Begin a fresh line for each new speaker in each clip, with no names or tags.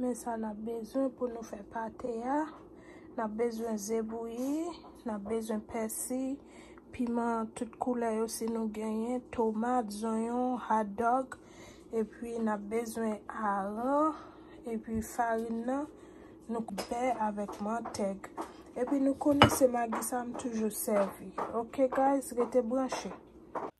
Men sa n ap bezwen pou nou fè pate a, n ap bezwen ze bouyi, n ap bezwen pèsi, piman tout koulè yo si nou genyen, tomat, zonyon, hotdog, epi n ap bezwen aran, epi farin nan, nou k bè avèk mantèg. Epi nou konnen se magi sa m toujou sèvi. Ok guys, rete branche.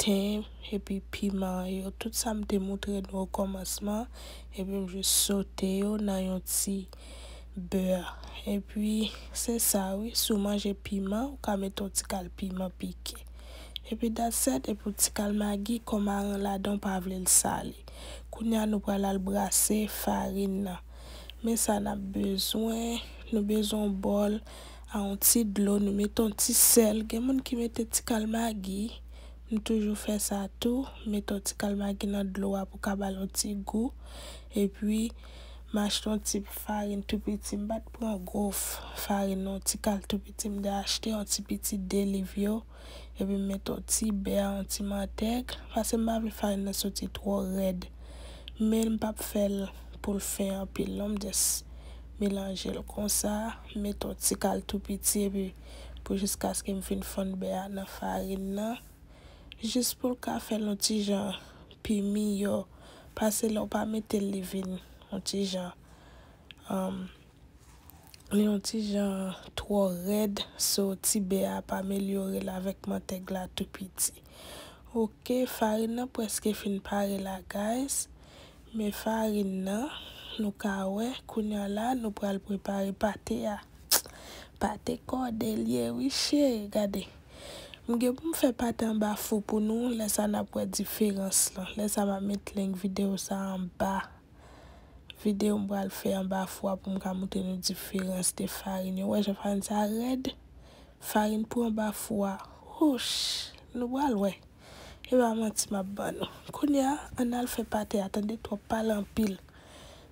ten, epi piman yo, tout sa m te moutre nou okòmansman, epi m jis sote yo nan yon ti bè, epi se sa wi, si w manje piman ou ka mete yon ti kal piman pike, epi that's set, epi yon ti kal magi kon marin ladan w pa vle l sale, kounya nou pral al brase farin nan, men sa nap bezwen, nou bezwen yon bòl. A yon ti dlo nou met yon ti sèl gen moun ki mete ti kal magi m toujou fè sa tou met yon ti kal magi nan dlo a pou ka bal yon ti gou epi m achte yon ti farin tou piti m pat pran gwo farin non ti kal tou piti m te achte yon ti piti 2 liv yo epi m met yon ti bè yon ti mantèg pase m pa vle farin nan soti twò rèd men m pap fèl poul fen anpil non m just melanjel konsa. M met yon ti kal tou piti epi pou jiskaske m fin fonn bè a nan farin nan jis pou l ka fè l yon ti jan pi miyò pase lè w pa mete l li vin yon ti jan li yon ti jan twò rèd so ti bè a ap amelyore l avèk mantèg la tou piti ok farin nan prèske fin pare la guys Men farin nan nou ka wè kounya la nou pral prepare pate a pate kòde liye wi cheri gade m gen pou m fè pate anba fou pou nou lè sa nap wè diferans lan lè sa map met link video sa anba video m pral fè anba fou a pou m ka moutre nou diferans de farin yo wè jan farin sa rèd farin pou anba fou a houch nou pral wè. E pa manti map ban nou. Kounya an al fè pate a tande twòp pale anpil.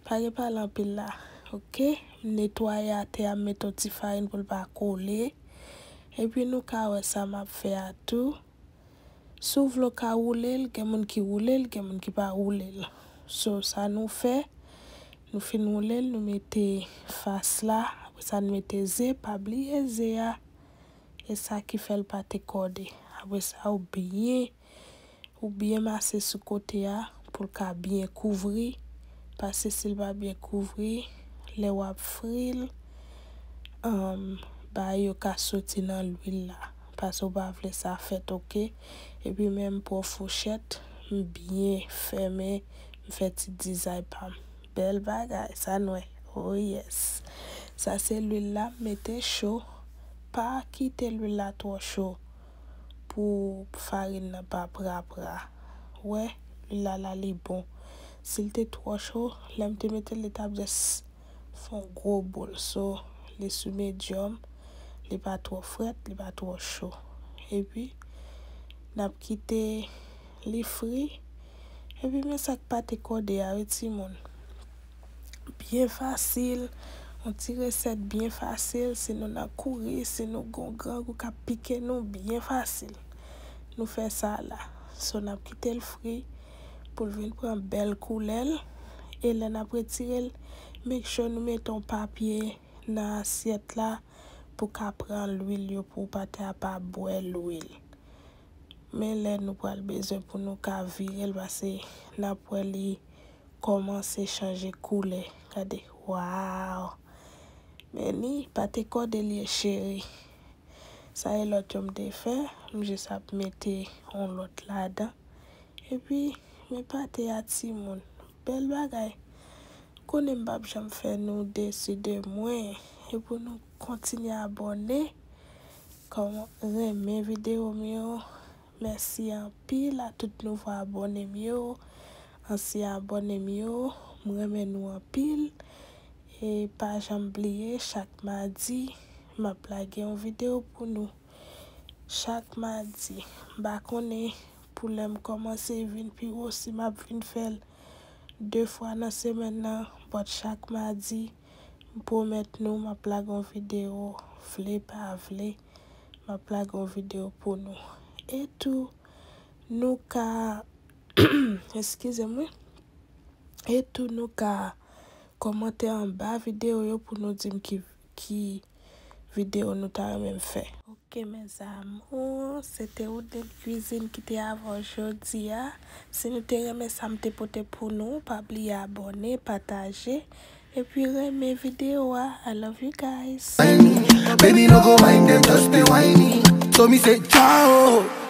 Pa gen pale anpil la ok. M netwaye atè a m met yon ti farin pou l pa kole. Epi nou ka wè sa map fè a tou. Si w vle w ka woule l gen moun ki woule l gen moun ki pa woule l. So sa nou fè nou fin woule l nou mete fas la apresa nou mete ze pa bliye ze a. E sa ki fèl pa te kòde. Apre sa ou byen ou byen mase sou kote a poul ka byen kouvri paske sil pa byen kouvri lè wap fril humm bay yo ka soti nan lwil la paske ou pa vle sa fèt ok. Epi menm pran fouchèt m byen fèmen m fè ti dizay pam. Bel bagay sa n we oh yes. Sa se lwil la mete cho pa kite lwil la tro cho pou farin nan pa pra pra we lwil la la li bon sil te tro cho lem te metel li tap just fon gro boul so li sou medium li pa tro fret li pa tro cho epi nap kite li fri, epi men sak pate kode a wi timoun, byen fasil, yon ti resèt byen fasil si nou nan kouri, si nou gon grangou kap pike nou byen fasil nou fè sa la, so nap kitel fri poul vin pran bèl koulèl, e lè nap retirel make sure nou mete yon papye nan asyèt la pou ka pran lwil yo pou pate a pa bwè lwil men lè nou pral bezwen pou nou ka vire l pase n ap wè li kòmanse chanje koulè gade waaww men li pa te kòde l ye cheri sa e lòt yo m te fè m jis ap mete yon lòt ladan epi men pate a timoun bèl bagay m konnen m p ap janm fè nou desi de mwen e pou nou kontinye abòne Kòm renmen video m yo. Mèsi anpil a tout nouvo abòne m yo, ansyen abòne m yo, m renmen nou anpil e pa janm bliye chak madi map lage yon video pou nou chak madi m pa konnen pou lèm kòmanse vin pi wo si map vin fèl 2 fwa nan semèn nan but chak madi M pwomèt nou map lage yon video vle pa vle map lage yon video pou nou e tou nou ka eskize m wi e tou nou ka kòmante anba video yo pou nou dim ki video nou ta renmen m fè. Ok mes amours se te Oudline cuisine ki te avè w jodi a si nou te renmen sa m te pote pou nou pa bliye abòne pataje epi renmen video a I love you guys. Baby no
go mind them just dey whine me so me say Jah oh.